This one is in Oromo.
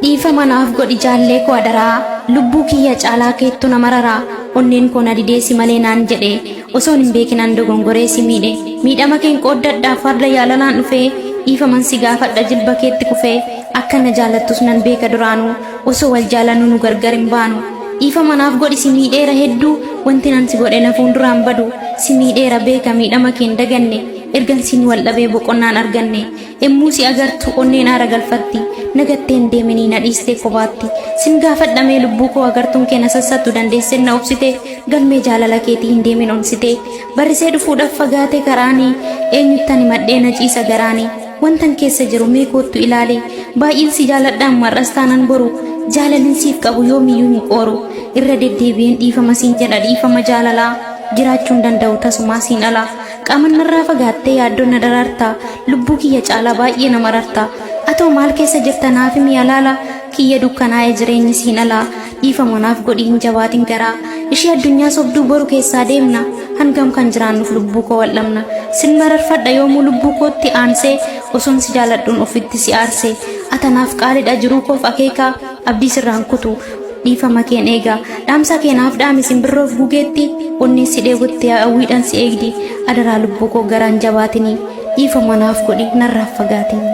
dhiifama naaf godhi jaallee koo adaraa lubbuu kiyya caalaa keettu na mararaa onneen koo na dideessi malee naan jedhe osoon hin beekinaan dogongoree si miidhe miidhama keen qooddadhaa farda yaalalaan dhufee dhiifaman si gaafadha jilba keetti kufee akka na jaalattus nan beeka duraanuu Osoo wal jaalannuu nu gargar hin baanu Dhiifama naaf godhi si miidheera hedduu Wantin an si godhe na fuuldura hin badu Si miidheera beeka miidhama kee hin daganne Ergan siin wal dhabee boqonnaan arganne Emmuu si agartu onneen aara galfatti Na gattee hin deeminii na dhiistee kophaatti Sin gaafadha mee lubbuu koo agartuun kee na sassattu Dandeesseen na obsite galmee jaalala keetii hin deemin onsite Barrisee dhufuudhaaf fagaate karaani Eenyuttan himadhee na ciisa garaani Wantan keessa jiru mee koottu ilaali. Baay'een si jaaladha amma har'as taanan boru. Jaalalin siif qabu yoomiyyuu hin qooru. Irra deddeebi'een dhiifama siin jedha dhiifama jaalalaa. Jiraachuun danda'u tasumaa siin ala. Qaaman narraa fagaattee yaaddoon na daraarta. Lubbuu kiyya caalaa baay'ee na mararta. Atoo maal keessa jirta naaf himi alaala. kiyya dukkanaa'e jireenyi siin alaa dhiifama naaf godhi hin jabaatin garaa ishii addunyaa sobduu boru keessaa deemna hangam kan jiraannuuf lubbuu koo wal'amna sin mararfadha yoomuu lubbuu kootti aansee osoon si jaaladhuun ofitti si aarse atanaaf qaalidha jiruu koof akeekaa abdii sirraan kutu dhiifama keen eega dhaamsa keenaaf dhaame simbirroof gugeetti onnee si dheebotte hawwiidhaan si eegdi adaraa lubbuu koo garaan jabaatinii dhiifama naaf godhi narraaf fagaatinii.